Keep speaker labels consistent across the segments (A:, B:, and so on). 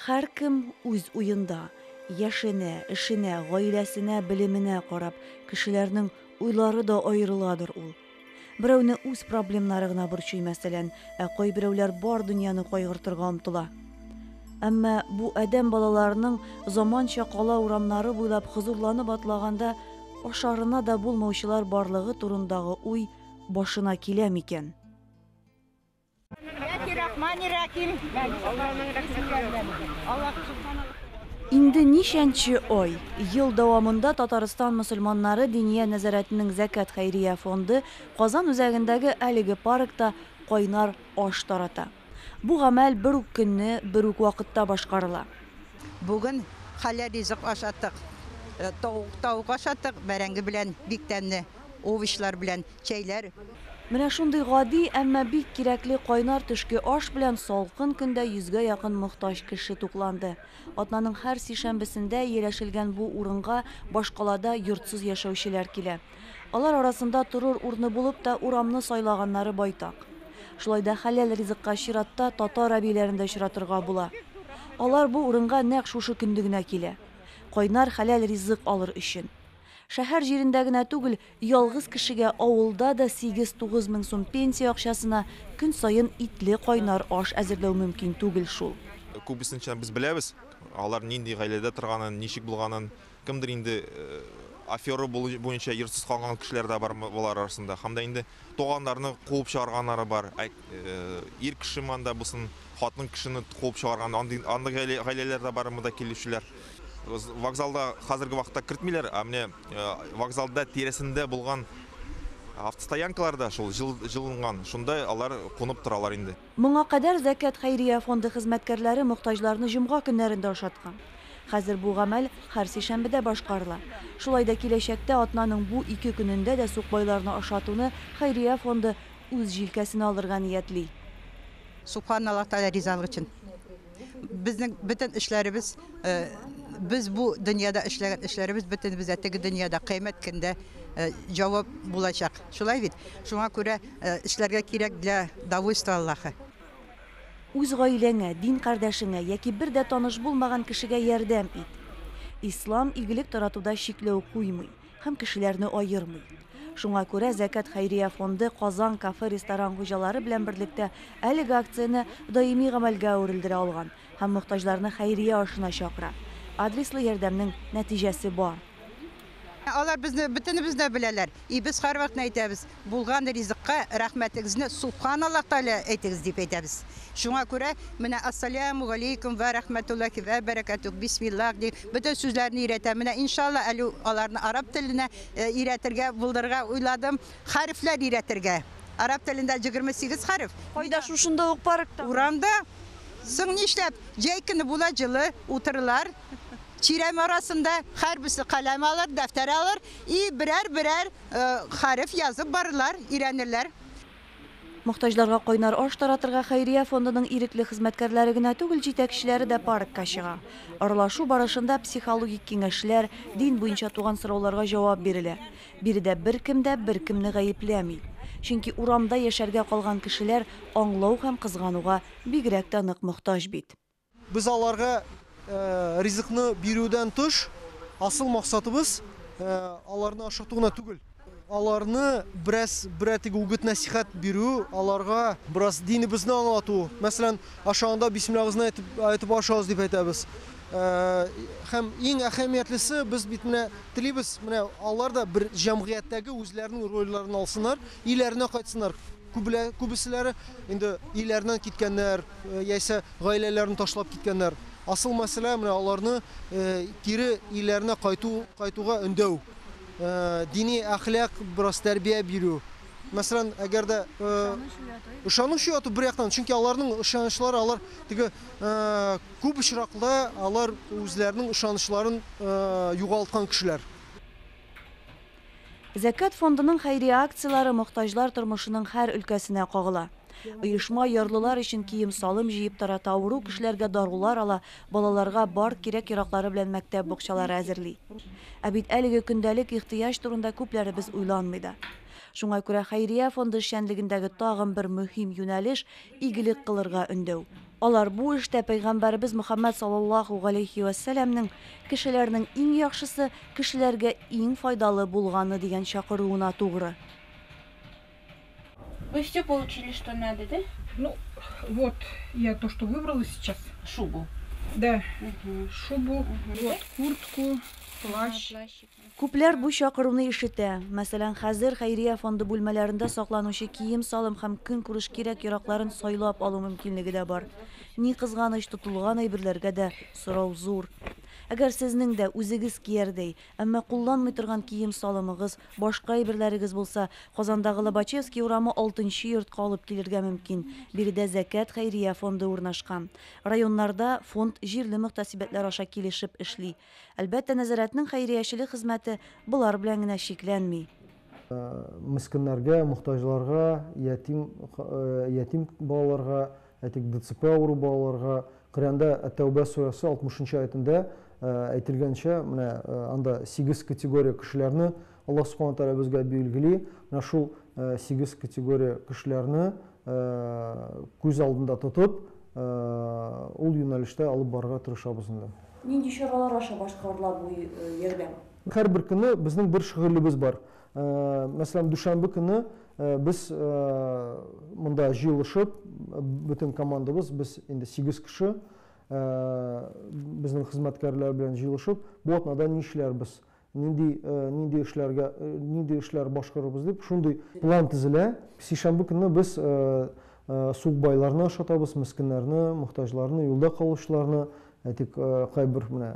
A: Һәркем үз уенда, яшенә, эшенә, гаиләсенә, белеменә карап, кешеләрнең уйлары да аерыладыр ул. Берәүне үз проблемнары гына борчый, мәсәлән, ә кайберәүләр бар дөньяны кайгыртырга омтыла. Әмма бу адәм балаларының заманча кала урамнары буйлап хозурланып атлаганда ашарына да булмаучылар барлыгы турындагы уй башына килә микән? Инде ничәнче ай, ел дәвамында Татарстан мөселманнары Диния нәзарәтенең Зәкят хәйрия фонды Казан үзәгендәге әлеге паркта кайнар аш тарата. Бу гамәл бер үк көнне, бер үк вакытта башкарыла. Бүген
B: хәләл ризык ашаттык. Тавык ашаттык, бәрәңге белән бик тәмле, овощлар белән. чәйләр. Менә шундый
A: гади, әмма бик кирәкле кайнар төшке аш белән салкын көндә йөзгә якын мохтаҗ кеше тукланды. Атнаның һәр сишәмбесендә ияләшелгән бу урынга башкалада йортсыз яшәүчеләр килә. Алар арасында торыр урыны булып та урамны сайлаганнары байтак. Шулай да хәләл ризыкка чиратта татар әбиләрен дә очратырга була. Алар бу урынга нәкъ шушы көнде генә килә. Кайнар хәләл ризык алыр өчен. Шәһәр җирендә генә түгел, Ялгыз кешегә авылда да сигез-тугыз мең сум пенсия акчасына көн саен итле кайнар аш әзерләү мөмкин түгел шул. Күбесенчә без
C: беләбез, алар нинди гаиләдә торганын, ничек булганын. Кемдер инде афера буенча йортсыз калган кешеләр дә бар болар арасында. Һәм дә инде туганнарны куып чыгарганнары бар. Ир кеше монда булсын, хатын кешене куып чыгарган андый андый гаилә- гаиләләр дә бар монда килүчеләр. З- Вокзалда хәзерге вакытта кертмиләр, а менә э, вокзалда тирәсендә булган автостоянкалар да шул җыл, җылынган, шунда алар кунып торалар инде. Моңа кадәр Зәкят
A: хәйрия фонды хезмәткәрләре мохтаҗларны җомга көннәрендә ашаткан. Хәзер бу гамәл һәр сишәмбедә башкарыла. Шулай да киләчәктә атнаның бу ике көнендә дә сукбайларны ашатуны хәйрия фонды Үз җилкәсенә алырга ниятли. Субхан
B: Аллаһ Тәгалә ризалыгы өчен. Безнең бөтен эшләребез, без бу дөньяда эшләгән эшләребез бөтенебез дә теге дөньяда, Кыямәт көндә җавап булачак. Шулай бит? Шуңа күрә эшләргә кирәк для довольства Аллаһы.
A: Үз гаиләңә, дин кардәшеңә яки бер дә таныш булмаган кешегә ярдәм ит. Ислам игелек таратуда чикләү куймый. һәм кешеләрне аермый. Шуңа күрә Зәкят хәйрия фонды Казан кафе-ресторан хуҗалары белән берлектә әлеге акцияне даими гамәлгә әверелдерә алган һәм мохтаҗларны хәйрия ашына чакыра. Адреслы ярдәмнең нәтиҗәсе бар.
B: Алар безне бөтенебезне дә беләләр, и без һәрвакытны әйтәбез. Булган ризыкка рәхмәтегезне Субхан Аллаһ Тәгалә әйтегез дип әйтәбез. Шуңа күрә менә Ассаляму галейкум вә рәхмәтуллаһи вә бәрәкәтүһ, Бисмиллаһ дип бөтен сүзләрне өйрәтәм. Менә иншалла әле аларны араб теленә өйрәтергә булдырырга уйладым. Хәрефләр өйрәтергә. Араб телендә җегерме сигез хәреф. Кайда, шушында ук
A: парктамы? Урамда.
B: Соң нишләп? Җәй көне була, җылы, утырылар. Чирәм арасында һәрберсе каләм алыр, дәфтәр алыр и берәр-берәр хәреф язып барырлар, өйрәнерләр.
A: Мохтаҗларга кайнар аш таратырга хәйрия фондының ирекле хезмәткәрләре генә түгел, җитәкчеләре дә паркка чыга. Аралашу барышында психологик киңәшләр, дин буенча туган сорауларга җавап бирелә. Биредә беркем дә беркемне гаепләми. Чөнки урамда яшәргә калган кешеләр аңлау һәм кызгануга бигрәк тә нык мохтаҗ бит. Без аларга
D: ризыкны бирүдән тыш, асыл максатыбыз аларны ашату гына түгел. Аларны бераз берәр теге үгет-нәсыйхәт бирү, аларга бераз динебезне аңлату. Мәсәлән, ашаганда бисмиллабызны әйтеп әйтеп ашагыз дип әйтәбез. Һәм иң әһәмиятлесе, без бит менә телибез, менә алар да бер җәмгыятьтәге үзләренең рольләрен алсыннар, өйләренә кайтсыннар. Күбеселәре инде өйләреннән киткәннәр, яисә гаиләләрен ташлап киткәннәр. Асыл мәсьәлә менә аларны кире өйләренә кайту, кайтуга өндәү. Дини әхлак, бераз тәрбия бирү. Мәсәлән, әгәр дә ышаныч уяту бер яктан, чөнки аларның ышанычлары, алар теге күп очракта алар үзләренең ышанычларын югалткан кешеләр.
A: Зәкят фондының хәйрия акцияләре мохтаҗлар тормышының һәр өлкәсенә кагыла. Оешма ярлылар өчен кием-салым җыеп тарата, авыру кешеләргә дарулар ала, балаларга бар кирәк-яраклары белән мәктәп букчалары әзерли. Ә бит әлеге көндәлек ихтыяҗ турында күпләребез уйланмый да. Шуңа күрә хәйрия фонды эшчәнлегендәге тагын бер мөһим юнәлеш, игелек кылырга өндәү. Алар бу эштә пәйгамбәребез Мөхәммәд саллаллаһу галәйһи вә сәламнең Кешеләрнең иң яхшысы, кешеләргә иң файдалы булганы дигән чакыруына тугры. Вы
E: всё получили, что надо, да? Ну,
F: вот я то, что выбрала сейчас. Шубу.
E: Да,
F: шубу, вот куртку, плащ. Күпләр
A: бу чакыруны ишетә. Мәсәлән, хәзер хәйрия фонды бүлмәләрендә сакланучы кием-салым һәм көнкүреш кирәк-яракларын сайлап алу мөмкинлеге дә бар. Ни кызганыч, тотылган әйберләргә дә сорау зур. Әгәр сезнең дә үзегез киярдәй, әмма кулланмый торган кием-салымыгыз, башка әйберләрегез булса, Казандагы Лобачевский урамы алтынчы йортка алып килергә мөмкин. Биредә Зәкят хәйрия фонды урнашкан. Районнарда фонд җирле мөхтәсибәтләр аша килешеп эшли. Әлбәттә, нәзарәтнең хәйриячелек хезмәте болар белән генә чикләнми.
D: Мескеннәргә, мохтаҗларга, ятим ятим балаларга, әйтик, ДЦП авыру балаларга, Коръәндә Әт-Тәүбә сүрәсе 60 нчы аятендә әйтелгәнчә, менә анда сигез категория кешеләрне Аллаһ Субхана Тәгалә безгә билгели, менә шул сигез категория кешеләрне күз алдында тотып, ул юнәлештә алып барырга тырышабыз инде. Нинди чаралар
A: аша башкарыла бу ярдәм? Һәрбер көнне
D: безнең бер шөгылебез бар. Мәсәлән, дүшәмбе көнне без монда җыелышып, бөтен командабыз, без инде сигез кеше, безнең хезмәткәрләр белән җыелышып, бу атнада ни эшләрбез, Нинди, нинди эшләргә, нинди эшләр башкарырбыз дип, шундый план тезелә. Сишәмбе көнне без сукбайларны ашатабыз, мескеннәрне, мохтаҗларны, юлда калучыларны. Әйтик, кайбер менә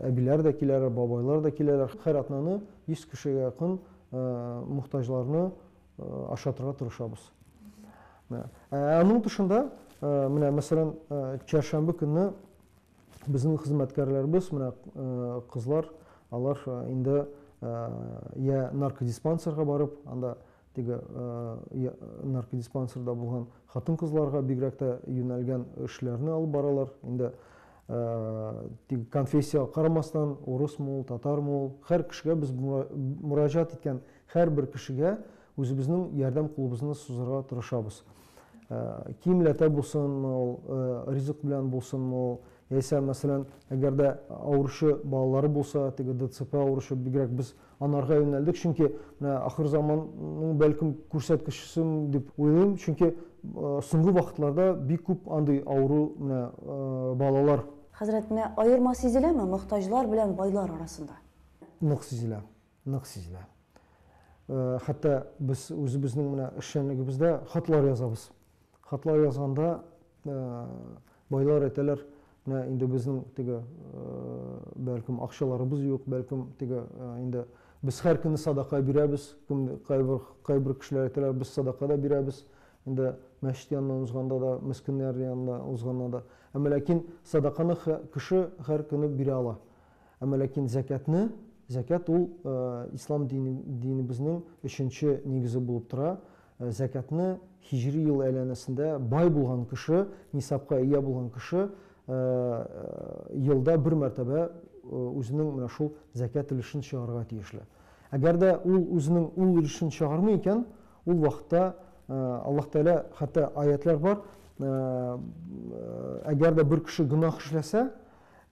D: әбиләр дә киләләр, бабайлар да киләләр. Һәр атнаны 100 кешегә якын мохтаҗларны ашатырга тырышабыз. Ә аның тышында, менә мәсәлән, чәршәмбе көнне Безнең хезмәткәрләребез, менә кызлар, алар инде я наркодиспансерга барып, анда теге наркодиспансерда булган хатын-кызларга бигрәк тә юнәлгән эшләрне алып баралар. Инде теге конфессия карамастан, урыс мул, татар мул, һәр кешегә без мураҗат иткән һәрбер кешегә Үзебезнең ярдәм кулыбызны сузарга тырышабыз. Киемләтә булсынмы ул, ризык белән булсынмы ул, яисә, мәсәлән, әгәр дә авыручы балалары булса, теге ДЦП авыручы, бигрәк без анарга юнәлдек, чөнки менә ахыр заманның бәлкем күрсәткечесем дип уйлыйм, чөнки соңгы вакытларда бик күп андый авыру менә балалар. Хәзрәт, менә
A: аерма сизеләме мохтаҗлар белән байлар арасында? Нык сизелә.
D: Нык сизелә. Хәтта без үзебезнең менә эшчәнлегебездә хатлар язабыз. Хатлар язганда байлар әйтәләр, менә инде безнең теге бәлкем акчаларыбыз юк, бәлкем теге инде без һәр көнне садака бирәбез, кайбер кайбер кешеләр әйтәләр, без садака да бирәбез, инде мәчет янына узганда да, мескеннәр янына узганда да. Әмма ләкин садаканы кеше һәр көнне бирә ала. Әмма ләкин зәкятны, зәкят ул ислам дине, динебезнең өченче нигезе булып тора. Зәкятны хиҗри ел әйләнәсендә бай булган кеше, нисапка ия булган кеше елда бер мәртәбә үзенең менә шул зәкят өлешен чыгарырга тиешле. Әгәр дә ул үзенең ул өлешен чыгармый икән, ул вакытта Аллаһ Тәгалә хәтта аятлар бар, әгәр дә бер кеше гөнаһ эшләсә,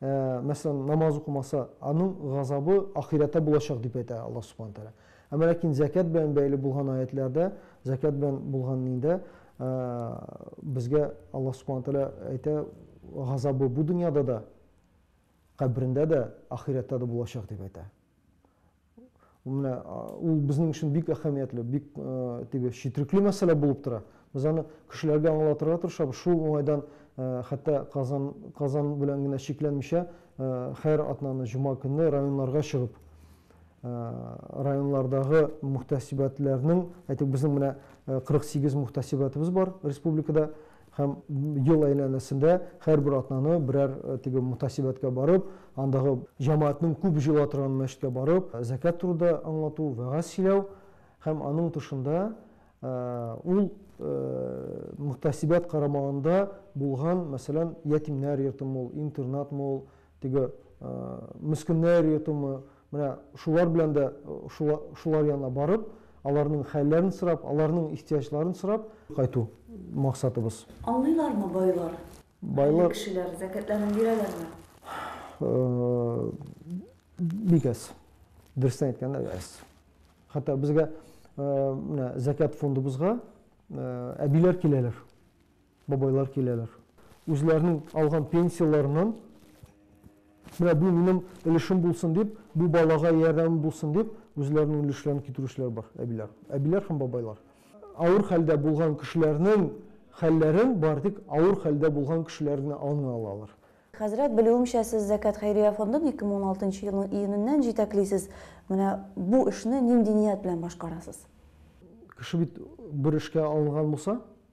D: ә, мәсәлән, намаз укымаса, аның газабы ахирәттә булачак дип әйтә Аллаһ Субхаһу тәгалә. Әмма ләкин зәкят белән бәйле булган аятларда, зәкят белән булган ниндә ә, безгә Аллаһ Субхаһу тәгалә әйтә, газабы бу дөньяда да, кабрендә дә, ахирәттә дә булачак дип әйтә. Менә ул безнең өчен бик әһәмиятле, бик теге четрекле мәсьәлә булып тора. Без аны кешеләргә аңлатырга тырышабыз. Шул уңайдан хәтта Казан Казан белән генә чикләнмичә, хәер атнаны җома көнне районнарга чыгып, районлардагы мөхтәсибәтләрнең, әйтик, безнең менә 48 мөхтәсибәтебез бар республикада. Һәм ел әйләнәсендә һәрбер атнаны берәр теге мутасибәткә барып, андагы җәмәгатьнең күп җыела торган мәчеткә барып, зәкят турыда аңлату, вәгазь сөйләү һәм аның тышында ул мутасибәт карамагында булган, мәсәлән, ятимнәр йортымы ул, интернатмы ул, теге мескеннәр йортымы, менә шулар белән дә шулар янына барып, аларның хәлләрен сорап, аларның ихтыяҗларын сорап кайту максатыбыз. Аңлыйлармы
A: байлар? Байлар
D: кешеләр зәкятләрен
A: бирәләрме?
D: Бик әз. Дөрестән әйткәндә, әз. Хәтта безгә менә зәкят фондыбызга әбиләр киләләр. Бабайлар киләләр. Үзләренең алган пенсияләреннән, менә бу минем өлешем булсын дип, бу балага ярдәмем булсын дип, үзләренең өлешләрен китерүчеләр бар, әбиләр. Әбиләр һәм бабайлар. Авыр хәлдә булган кешеләрнең хәлләрен бары тик авыр хәлдә булган кешеләр генә аңлый алалар. Хәзрәт, белүемчә,
A: сез Зәкят хәйрия фондын 2016 нчы елның июненнән җитәклисез. Менә бу эшне нинди ният белән башкарасыз? Кеше
D: бит бер эшкә алынган булса,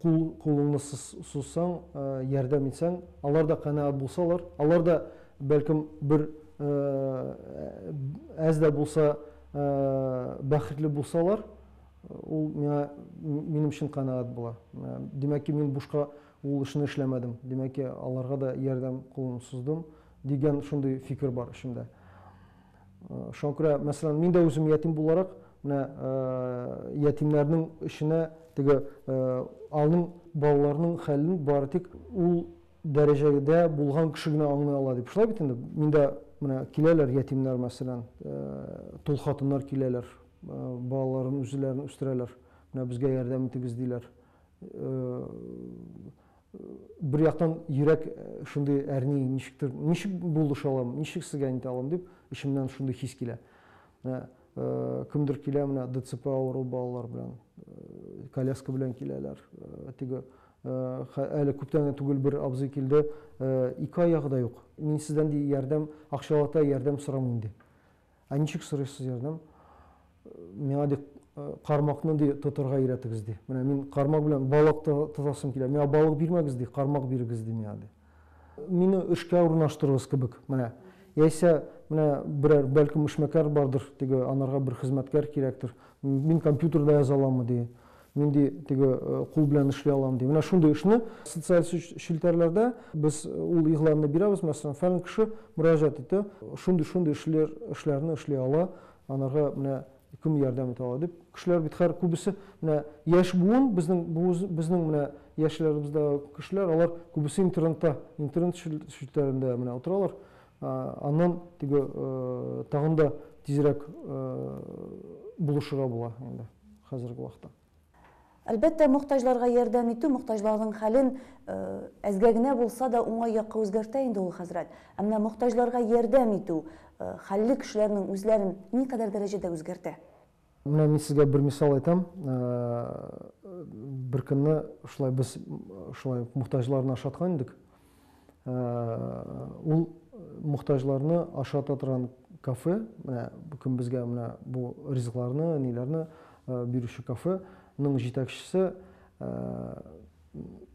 D: Кул, кулыңны сыз, сузсаң, ярдәм итсәң, алар да канәгать булсалар, алар да, бәлкем, бер әз дә булса бәхетле булсалар, ул миңа, минем өчен канәгать була. Димәк ки, мин бушка ул эшне эшләмәдем. Димәк ки, аларга да ярдәм кулын суздым, дигән шундый фикер бар эчемдә. Шуңа күрә, мәсәлән, мин дә үзем ятим буларак, менә ятимнәрнең эченә теге аның балаларның хәлен бары тик ул дәрәҗәдә булган кеше генә аңлый ала дип. Шулай бит инде. Миндә менә киләләр ятимнәр, мәсәлән, тол хатыннар киләләр, балаларын үзләрен үстерәләр. Менә безгә ярдәм итегез диләр. Бер яктан йөрәк шундый әрни, ничектер, ничек булыша алам, ничек сезгә әйтә алам дип, эчемнән шундый хис килә. Менә кемдер килә, менә ДЦП авыру балалар белән, коляска белән киләләр. Теге әле күптән түгел бер абзый килде, ике аягы да юк. Мин сездән ди ярдәм, акчалата ярдәм сорамыйм ди. Ә ничек сорыйсыз ярдәм? Миңа ди кармакны ди тотырга өйрәтегез ди. Менә мин кармак белән балык тотасым килә. Миңа балык бирмәгез ди, кармак бирегез ди миңа ди. Мине эшкә урнаштырыгыз кебек, менә. Яисә менә берәр, бәлкем, эшмәкәр бардыр, теге анарга бер хезмәткәр кирәктер. Мин компьютерда яза аламмы ди. Мин ди теге кул белән эшли алам ди. Менә шундый эшне социаль челтәрләрдә без ул игъланны бирәбез, мәсәлән, фәлән кеше мөрәҗәгать итте, шундый-шундый эшләр эшләрне эшли ала, анарга менә кем ярдәм итә ала дип. Кешеләр бит хәр күбесе менә яшь буын, безнең безнең менә яшьләребездә кешеләр, алар күбесе интернетта, интернет челтәрендә менә утыралар. Аннан теге тагын да тизрәк булышырга була инде. хәзерге вакытта. Әлбәттә,
A: мохтаҗларга ярдәм итү мохтаҗларның хәлен әзгә генә булса да уңай якка үзгәртә инде ул, хәзрәт. Ә менә мохтаҗларга ярдәм итү хәлле кешеләрнең үзләрен никадәр дәрәҗәдә үзгәртә? Менә мин
D: сезгә бер мисал әйтәм. Беркөнне шулай без шулай ук мохтаҗларны ашаткан идек. Ул мохтаҗларны ашата торган кафе, менә кем безгә менә бу ризыкларны, ниләрне бирүче кафеның җитәкчесе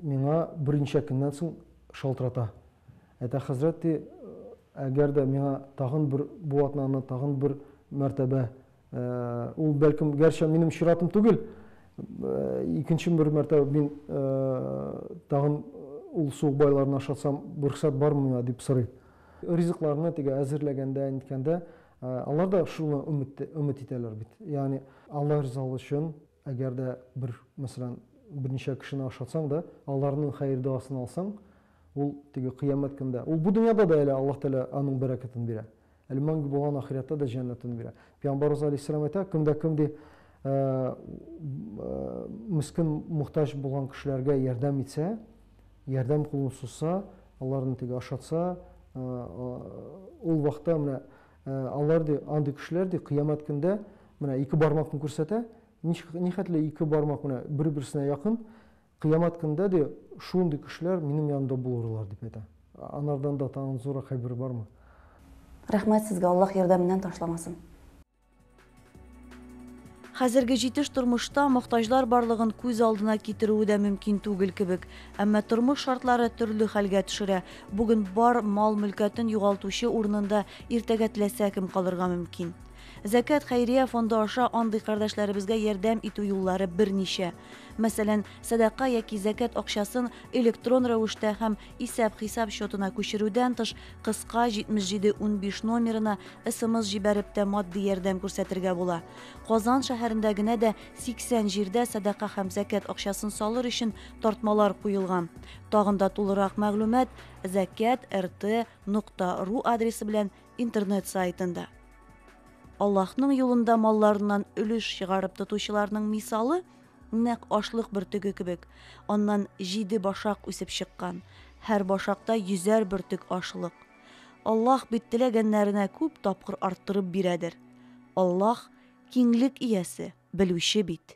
D: миңа берничә көннән соң шалтырата. Әтә хәзрәт, ди, әгәр дә миңа тагын бер бу атнаны тагын бер мәртәбә Ул бәлкем гәрчә минем чиратым түгел. Икенче бер мәртәбә мин тагын ул суык байларны ашатсам, рөхсәт бармы миңа дип сорый. Ризыкларны теге әзерләгәндә, ниткәндә, алар да шуны өмет итәләр бит. Ягъни Алла ризалыгы өчен Әгәр дә бер, мәсәлән, берничә кешене ашатсаң да, аларның хәер-доасын алсаң, ул теге кыямәт көндә, ул бу дөньяда да әле Аллаһ Тәгалә аның бәрәкәтен бирә. Әле мәңге булган ахирәттә дә җәннәтен бирә. Пәйгамбәребез галәйһиссәлам әйтә, кем дә кем ди, мескен, мохтаҗ булган кешеләргә ярдәм итсә, ярдәм кулын сузса, аларны теге ашатса, ул вакытта менә Ә алар, ди, андый кешеләр, ди, Кыямәт көндә менә ике бармакны күрсәтә, ничек, нихәтле ике бармак менә бер-берсенә якын, Кыямәт көндә, ди, шундый кешеләр минем янымда булырлар, дип әйтә. Анардан да тагын зуррак хәбәр бармы?
A: Рәхмәт сезгә, Аллаһ ярдәменнән ташламасын. Хәзерге җитеш тормышта мохтаҗлар барлыгын күз алдына китерүе дә мөмкин түгел кебек. Әмма тормыш шартлары төрле хәлгә төшерә. Бүген бар мал-мөлкәтен югалтучы урынында иртәгә теләсә кем калырга мөмкин. Зәкәт хәйрия фонды аша андый кардәшләребезгә ярдәм итү юллары берничә. Мәсәлән, сәдака яки зәкәт акчасын электрон рәвештә һәм Исәп-хисап счетына күчерүдән тыш, кыска 7715 номерына СМС җибәреп тә матди ярдәм күрсәтергә була. Казан шәһәрендә генә дә 80 җирдә сәдака һәм зәкят акчасын салыр өчен тартмалар куелган. Тагын да тулырак мәгълүмат zakat.rt.ru адресы белән интернет сайтында. Аллаһның юлында малларыннан өлеш чыгарып тотучыларның мисалы Нәкъ ашлык бөртеге кебек, аннан җиде башак үсеп чыккан, һәр башакта йөзәр бөртек ашлык. Аллаһ бит теләгәннәренә күп тапкыр арттырып бирәдер. Аллаһ, Киңлек Иясе, Белүче бит.